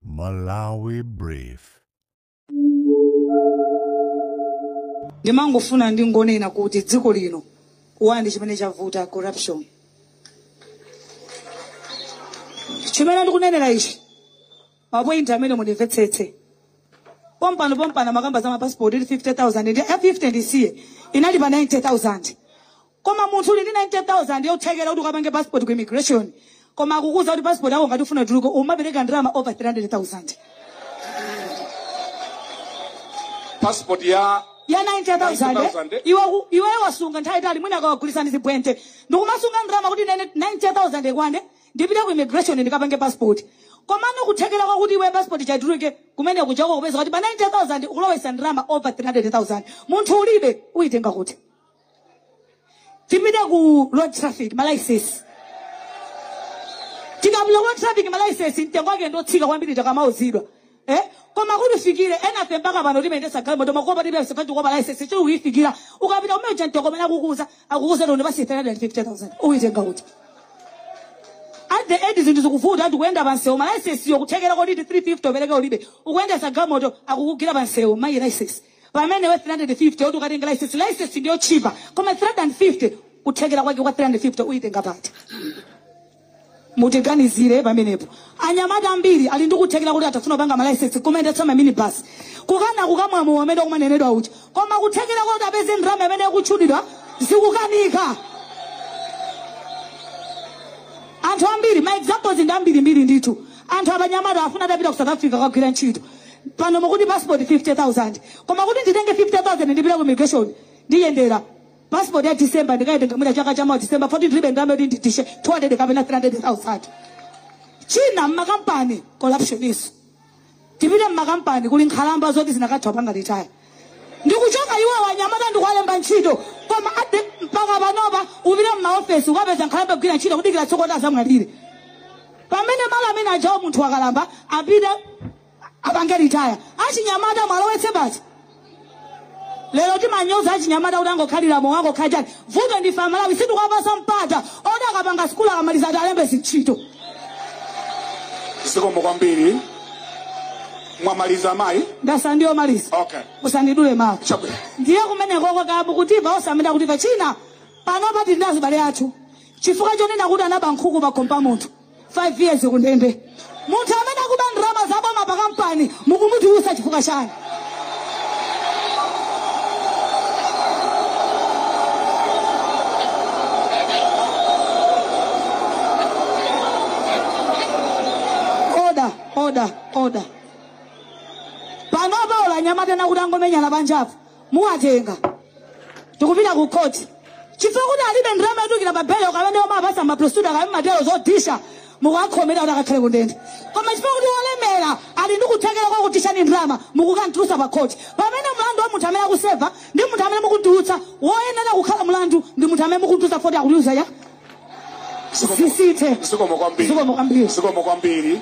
Malawi Brief. ndimangofuna ndingonena kuti dziko lino wandi chimene chavuta corruption chimene ndikunenera ichi mapointi amene mundimvetsetse pompano pompano makamba za mapasipoti ili 50000 ndi ya 50 bwenzi inali pa 90000 koma munthu uli ndi 90000 yothekera kuti ukapange passport ku immigration koma akukuuza kuti passport yako ngati ufuna ituluke umapereka ndalama over 300000 passport ya ya 90000 9,000, eh? iwe ku- iwe wasunga nthawi yaitali mwina ukumagulitsa zibwente ndikumasunga ndalama kuti 90000 ikwane ndipite ku immigration ndikapange passport komano kuthekera kwakuti iwe passport ija ituluke kumene kujako ukupeza kuti pa 90000 ukulowesa ndalama over 300000 munthu ulibe uyitenga kuti tipite ku road traffic malaisesi tikapita ku road traffic malaisesi mtengo wake ndotsika kwambiri tikamauzidwa eh? koma kuti uifikire enafe mpaka pano timayendesa galimoto mokuba tilibe laisesi chifukwa laisesi sitikuifikira ukapita umuja mtengo umene akukuuza akukuuza ndi basi 350000 uitenga kuti at the end zinthu zikuvuta tikuenda pansewu malaisesiyo kuthekera koti 350 upereke ulibe ukuendesa galimoto akukugwira pansewu malaisesi pamene iwe 350 yoti ukatenge license license ndi yotchipa koma 350 kuthekera kwake kwa 350 uyitenga pati mutiganizire pamenepo anyamata ambiri ali ndi kuthekera kuti atha kupanga malaisensi kumayendetsa maminibus kukana kumamwa mowa amene kumanenedwa uja koma kuthekera kuti apeze ndalama imene ikutchulidwa zikukanika anthu ambiri ma examples ndi ambirimbiri ndithu anthu achinyamata afuna atapita ku south africa kukagwira ntchito pano mukuti passport 50000 koma kuti nditenge 50000 ndipite ku immigration ndiyendere passport ya december ndikaitenga mwina chaka chamawa december poti ndilibe ndalama yoti nditiche 200 kapena 300000 china mmakampani corruptioninso tipite mmakampani kuli nkhalamba zoti zinakatha kupanga litaya ndikuchoka iwo anyamata ndikuwalemba ntchito koma ayi mpaka panopa upite mmaofesi ukapeza nkhalamba ikugwira ntchito kudikira tsiku loti azamwalire pamene malo amene ajawo munthu wakalamba apite apange ritaya achinyamata muwalowetse basi lero timanyoza achinyamata kuti angokhalira mowa angokhalira chani vuto ndife amalawi sitikuwapasa mpata oti akapanga sikulu akamaliza atiwalembe zintchito zikomo kwambiri mwamaliza ayi ndasala ndikumaliza okay usandidule mawu chabwino ndiye kumenekoko kabu kutiva osamenda kutiva china panopa tili ndi azibale athu chifukwa chonena kuti anaba nkhuku pa khomo pa munthu 5 years kundende munthu amene akuba ndalama za boma pa kampani mukumutulusa chifukwa chani oda oda oda panopa awa anyamata nakuti angomenyana panjapo muwatenga tikupita ku khoti chifukwa kuti alibe ndalama yotulukira pa belo kamene omapasa maprosecutor kamene matero zodishazo mukuwakhomera kuti akakhale kundende koma chifukwa kuti wolemera ali ndi kuthekera kwakuti ali ndi ndalama mukukantulusa pa khoti pamene mlandu wa munthu amene akuseva ndi munthu amene mukutulutsa woyenera kukhala mlandu ndi munthu amene mukutulutsa foti akutulusa ya izi zithe zikomo kwambiri zikomo kwambiri zikomo kwambiri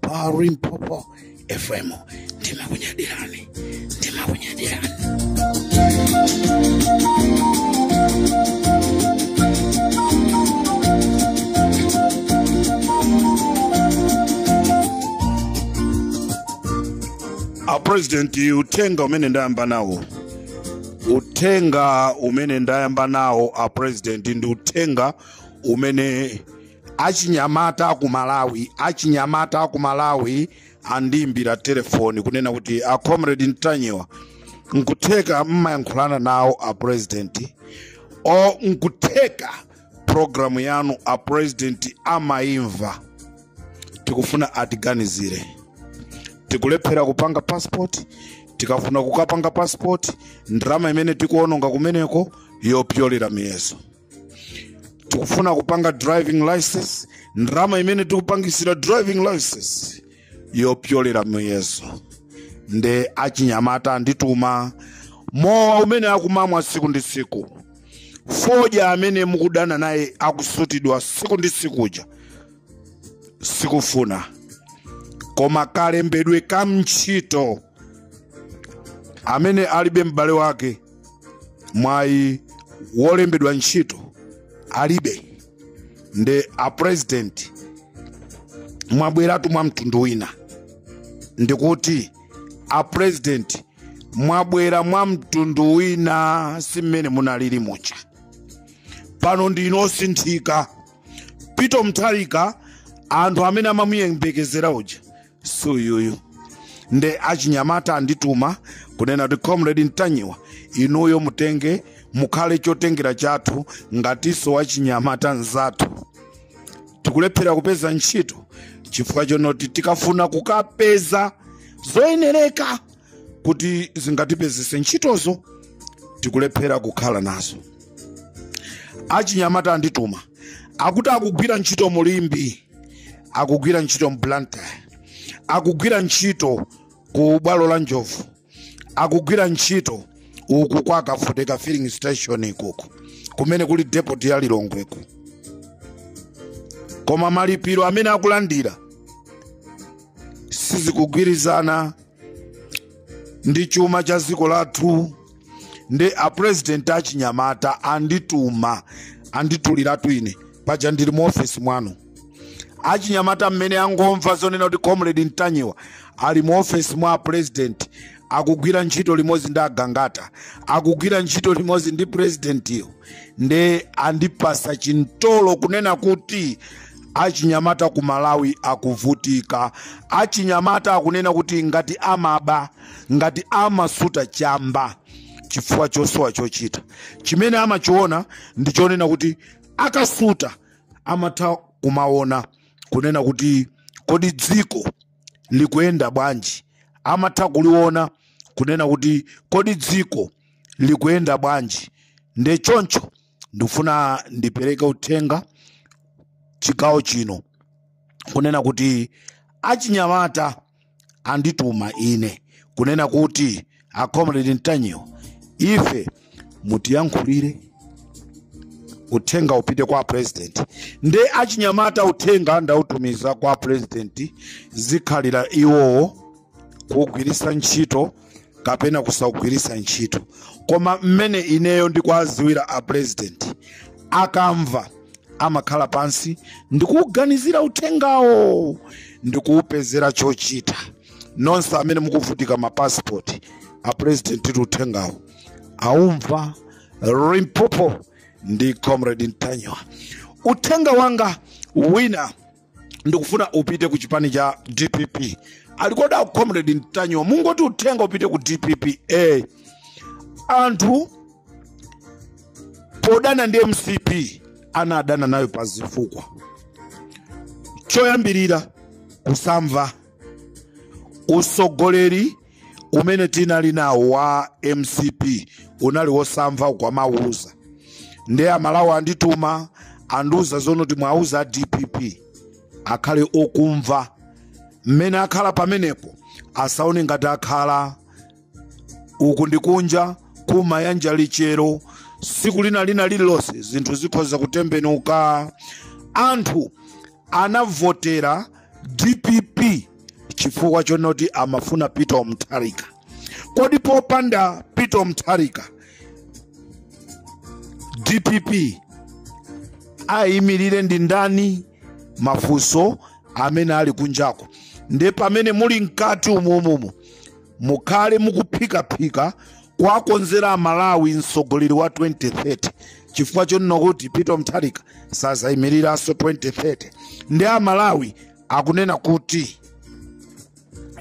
pa limpopo fm ndimakunyadirani ndimakunyadirani a president uthenga umene ndayamba nawo uthenga umene ndayamba nawo a president ndi uthenga umene achinyamata aku malawi achinyamata aku malawi andiimbira telefoni kunena kuti a comrade ntanyiwa nkutheka mmayankhulana nawo a president o nkutheka programu yanu a president amaimva tikufuna atiganizire tikulephera kupanga passport tikafuna kukapanga passport ndalama imene tikuononga kumeneko yopyolera miyeso tikufuna kupanga driving license ndalama imene tikupangisira driving license yopyolera muyezo nde achinyamata andituma mowa umene akumamwa tsiku ndi tsiku fodya amene mukudana naye akusutidwa tsiku ndi tsiku kuja sikufuna koma kalembedwe ka ntchito amene alibe m'bale wake mwayi wolembedwa ntchito alibe nde a president mwabweratu mwa mtundu wina ndikuti a president mwabwera mwa mtundu wina si mmene munalili muja pano ndinu osinthika peter mutharika anthu amene amamuyembekezera uja suyuyu nde achinyamata andituma kunena kuti comrade ntanyiwa inuyo mutenge mukhale chotengera chathu ngatinso wachinyamata nzathu tikulephera kupeza ntchito chifukwa chonoti tikafuna kukapeza zoyenereka kuti zingatipezese ntchitozo tikulephera kukhala nazo achinyamata andituma akuti akugwira ntchito mu limbe akugwira ntchito mblantyre akugwira ntchito ku bwalo la njovu akugwira ntchito uku kwa kafoteka filling station ikuku kumene kuli depot ya lilongweku koma malipiro amene akulandira sizikugwirizana ndi chuma cha dziko lathu nde a president achinyamata andituma andituliratu ine paja ndili mu ofesi mwanu achinyamata mmene angomva zonena kuti comrade ntanyiwa ali mu ofesi mwa a president akugwira ntchito limodzi ndi agangata akugwira ntchito limodzi ndi presidentiyo nde andipasa chimtolo kunena kuti achinyamata ku malawi akuvutika achinyamata akunena kuti ngati amaba ngati amasuta chamba chifukwa chosowa chochita chimene amachiona ndi chonena kuti akasuta amatha kumaona kunena kuti kodi dziko likuyenda bwanji amatha kuliona kunena kuti kodi dziko likuyenda bwanji nde choncho ndifuna ndipereke uthenga chigawo chino kunena kuti achinyamata andituma ine kunena kuti a comrade ntanyiwa ife mutiyankhulire uthenga upite kwa president nde achinyamata uthenga ndautumiza kwa president zikhalira iwowo kuwugwiritsa ntchito kapena kusaugwiritsa ntchito koma mmene ineyo ndikuwadziwira a president akamva amakhala pansi ndikuuganizira uthengawo ndikuupezera chochita nonse amene mukuvutika mapasipoti a president ati uthengawo aumva limpopo ndi comrade ntanyiwa uthenga wanga wina ndikufuna upite ku chipani cha dpp ali kodi a comrade ntanyiwa mungoti uthenga upite ku dpp eh. anthu podana ndi mcp anadana nayo pa zifukwa choyambirira kusamva usogoleri umene tinali nawo wa mcp unali wosamva ukamawauza nde amalawi andituma andiuza zonoti mwauza a dpp akhale okumva mmene akhala pamenepo asaone ngati akhala uku ndi kunja kumayanja lichero siku lina lina lililonse zinthu zikhoza kutembenuka anthu anavotera dpp chifukwa chonoti amafuna peter mutharika kodi popanda peter mutharika dpp ayimirire ndi ndani mafunso amene ali kunjako nde pamene muli mkati umumumu mukhale mukuphikaphika kuwakonzera amalawi mtsogoleri wa 2030 chifukwa chonena kuti peter mutharika sazaimiriranso 2030 nde amalawi akunena kuti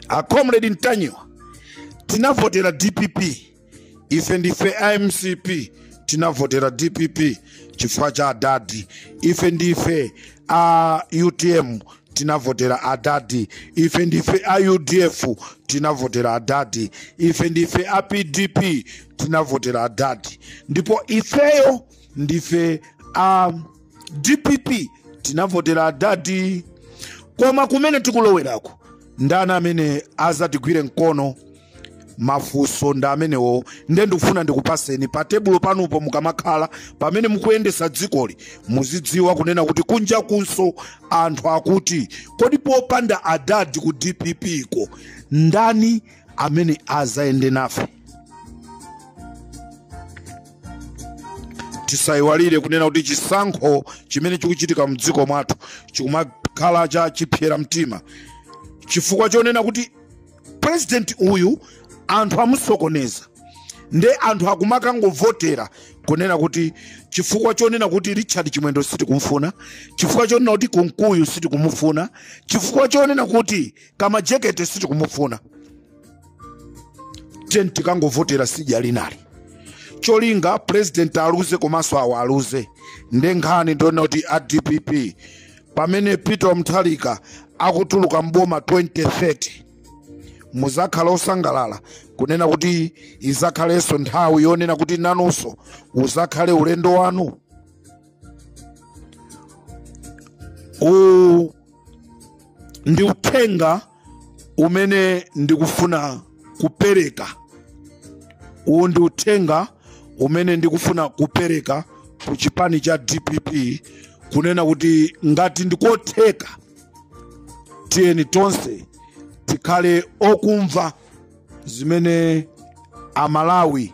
a comrade ntanyiwa tinavotera dpp ife ndife a mcp tinavotera dpp chifukwa cha adadi ife ndife a utm tinavotera adadi ife ndife a udf tinavotera adadi ife ndife a pdp tinavotera adadi ndipo ifeyo ndife a dpp tinavotera adadi koma kumene tikulowerako ndani amene azatigwire mkono mafunso ndi amenewo nde ndikufuna ndikupaseni pa tebulo panupo mukamakhala pamene mukuyendesa dzikoli muzidziwa kunena kuti kunja kunso anthu akuti kodi popanda adadi ku dpp ko ndani amene azayende nafe tisayiwalire kunena kuti chisankho chimene chikuchitika mdziko mwathu chikumakhala cha chipsera mtima chifukwa chonena kuti purezidenti uyu anthu amusokoneza nde anthu akumakangovotera kunena kuti chifukwa chonena kuti richard chimwendo sitikumfuna chifukwa chonena kuti kunkuyu sitikumufuna chifukwa chonena kuti kama jekete sitikumufuna tiyeni tikangovotera sidya linali cholinga president aluze komanso awo aluze nde nkhani ndi yonena kuti a dpp pamene peter mutharika akutuluka mboma 2030 muzakhala osangalala kunena kuti izakhalenso nthawi yonena kuti nanunso uzakhale ulendo wanu uwu ndi uthenga umene ndikufuna kupereka uwu ndi uthenga umene ndikufuna kupereka ku chipani cha dpp kunena kuti ngati ndikotheka tiyeni tonse tikhale okumva zimene amalawi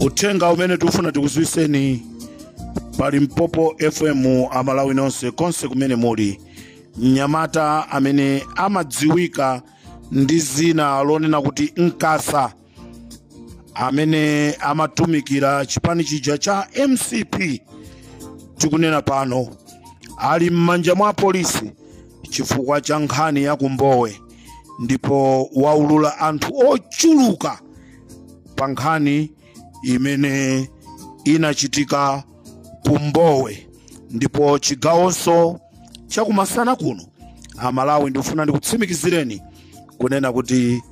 uthenga umene tikufuna tikudziwitseni pa limpopo fm amalawi nonse konse kumene muli mnyamata amene amadziwika ndi dzina lonena kuti nkasa amene amatumikira chipani chija cha mcp tikunena pano ali m'manja mwa polisi chifukwa cha nkhani ya ku mbowe ndipo waulula anthu ochuluka pa nkhani imene inachitika ku mbowe ndipo chigawonso chakumasana kuno amalawi ndikufuna ndikutsimikizireni kunena kuti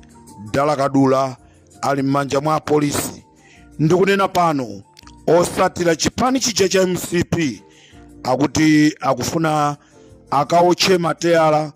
dala kadula ali m'manja mwa apolisi ndikunena pano otsatira chipani chija cha mcp akuti akufuna akawotche matayala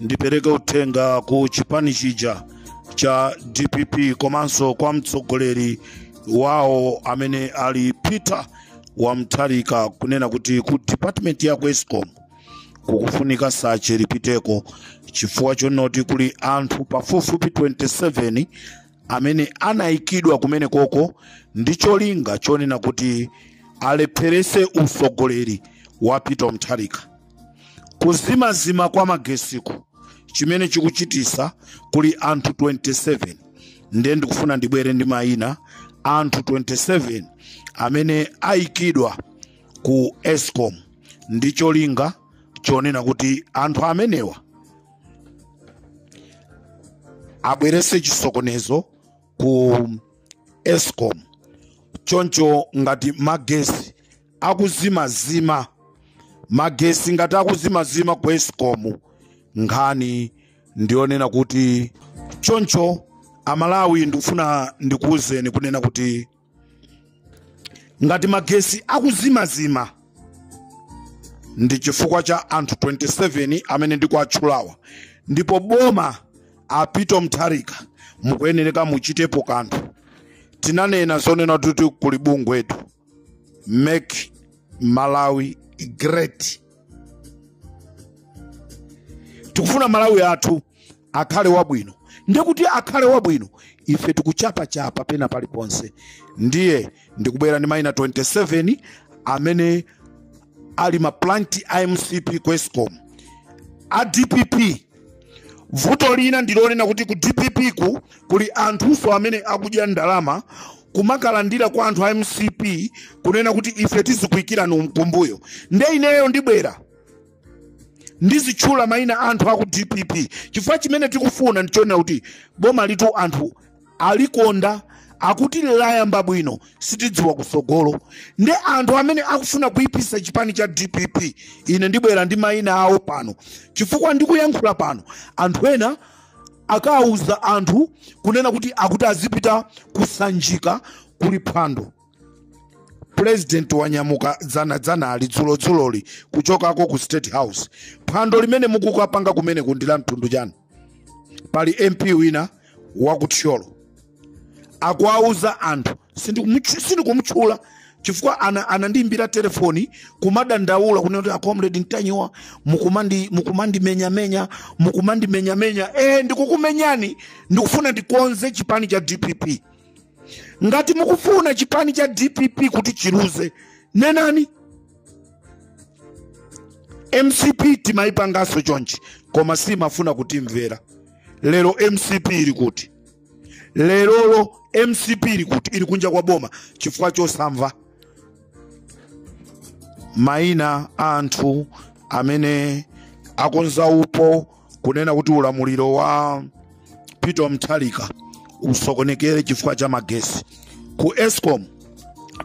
ndipereke uthenga ku chipani chija cha dpp komanso kwa mtsogoleri wawo amene ali peter wa mtharika kunena kuti ku department ya ku escom kukufunika sache lipiteko chifukwa chonoti kuli anthu pafupifupi 27 amene anayikidwa kumene koko ndi cholinga chonena kuti alepherese utsogoleri wa peter mtharika kuzimazima kwa magesiku chimene chikuchitisa kuli anthu 27 ndiye ndikufuna ndibwere ndi mayina a anthu 27 amene ayikidwa ku escom ndi cholinga chonena kuti anthu amenewa abwerese chisokonezo ku escom choncho ngati magesi akuzimazima magesi ngati akuzimazima ku escom nkhani ndiyonena kuti choncho amalawi ndikufuna ndikuwuzeni kunena kuti ngati magesi akuzimazima ndi chifukwa cha anthu 27 amene ndikuwatchulawa ndipo boma a peter mtharika mukuyenereka muchitepo kanthu tinanena zonena kuti kuli bungwetu make malawi great tikufuna malawi wathu akhale wabwino ndi kuti akhale wabwino ife tikuchapachapa pena paliponse ndiye ndikubwera ndi maina 27 amene ali ma plant a mcp ku escom a dpp vuto lina ndilonena kuti ku dppku kuli anthunso amene akudya ndalama kumakalandira kwa anthu a mcp kunena kuti ife tizikuikirani kumbuyo nde ineyo ndibwera ndizitchula maina anthu aku dpp chifukwa chimene tikufuna ndichonena kuti boma litu anthu alikonda akuti layamba bwino sitidziwa kusogolo nde anthu amene akufuna kuipisa chipani cha dpp ine ndibwera ndi maina awo pano chifukwa ndikuyankhula pano anthu ena akawuza anthu kunena kuti akuti azipita kusanjika kuli phwando pulezidenti wanyamuka dzana dzanali dzulo dzuloli kuchokako ku state house phwando limene mukukapanga kumeneku ndi la mtundu wanji pali mp wina wakuthyolo akuwauza anthu sindikumutchu- sindikumutchula chifukwa ana- anandiimbira telefoni kumadandaula kunena kuti acomrade ntanyiwa mukumandi- mukumandimenyamenya mukumandimenyamenya eh ndikukumenyani ndikufuna ndikonze chipani cha dpp ngati mukufuna chipani cha dpp kuti chiluze nenani mcp timayipangaso chonchi koma simmafuna kutimvera lero mcp ili kuti lerolo mcp ili kuti ili kunja kwa boma chifukwa chosamva maina a anthu amene akonza upo kunena kuti ulamuliro wa peter mutharika usokonekere chifukwa cha magesi ku escom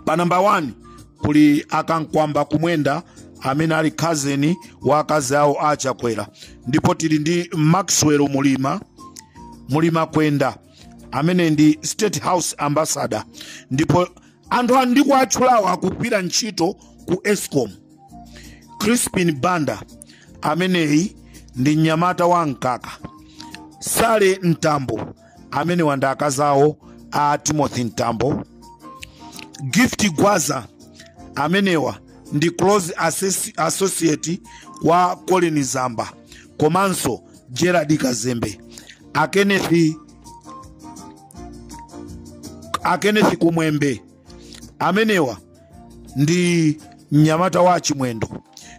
pa namba 1 kuli akankwamba kumwenda amene ali cousin wa akazi awo a chakwera ndipo tili ndi maxwell mulima mulima kwenda amene ndi state house ambassador ndipo anthu ndikuwatchulawa akugwira ntchito ku escom crispin banda ameneyi ndi mnyamata wa mkaka sally mtambo amenewa ndi akazawo a timothy mtambo gift gwaza amenewa ndi close assess- associate wa colleen zamba komanso gerald kazembe a kenneth a kenneth kumwembe amenewa ndi mnyamata wa achimwendo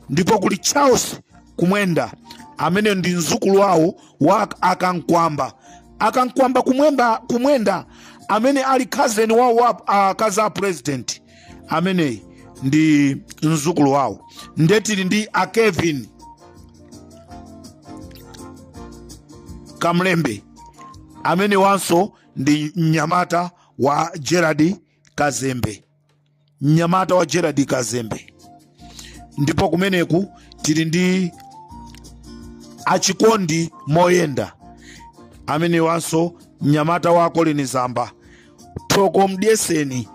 ndipo kuli charles kumwenda amene ndi mzukulu wawo wa akankwamba akankwamba kumwemba kumwenda amene ali cousin wawo wa akazi a president ameneyi ndi mzukulu wawo nde tili ndi a kevin kamlembe amenewanso ndi mnyamata wa gerald kazembe mnyamata wa gerald kazembe ndipo kumeneku tili ndi achikondi moyenda amenewanso mnyamata wa colleen zamba thoko mdyeseni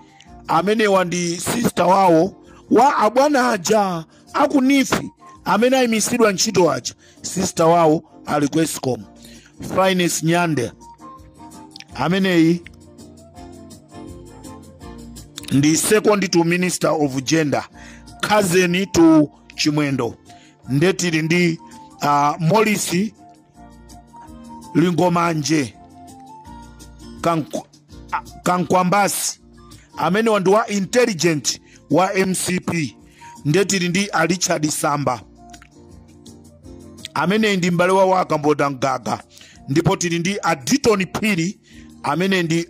amenewa ndi sista wawo wa abwana aja akunifi amene ayimitsidwa ntchito aja sista wawo ali ku escom Finess Nyande ameneyi ndi second to minister of gender cousin to chimwendo nde tili ndi uh, Morris lingomanje Kank- a- kankwambasi amenewa ndi wa intelligent wa mcp nde tili ndi a richard samba ameneyi ndi m'bale wawo a Kamboda mgaga ndipo tili ndi a Ditton phiri amene ndi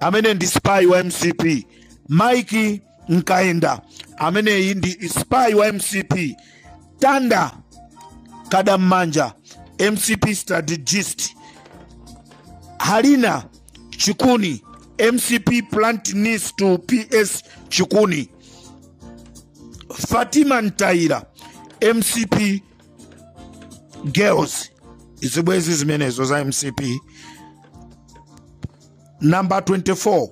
amene ndi spy wa mcp mike mkaenda ameneyi ndi spy wa mcp tanda Kadammanja mcp strategist halina chikuni mcp plant niece to ps chikuni fatima Mtaila mcp girls zibwenzi zimenezo za mcp number 24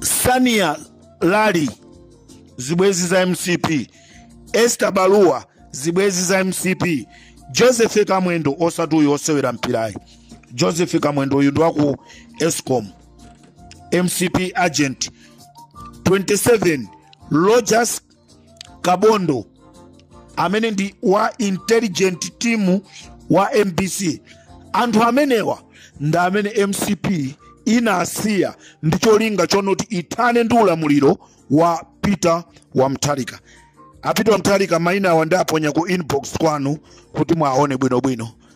sania lali zibwenzi za mcp esther baluwa zibwenzi za mcp joseph kamwendo osati uyu osewera mpirayi joseph kamwendo uyu ndi waku escom mcp agent 27 rogers kabondo amene ndi wa intelligent team wa mbc anthu amenewa ndi amene mcp inasiya ndi cholinga chonoti ithane ndi ulamuliro wa Peter wa Mutharika a Peter wa Mutharika maina awa ndiwaponya ku inbox kwanu kuti muwaone bwinobwino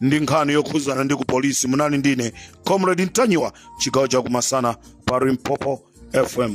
ndi nkhani yokhudzana ndi ku polisi munali ndine comrade ntanyiwa chigawo chakumasana pa limpopo fm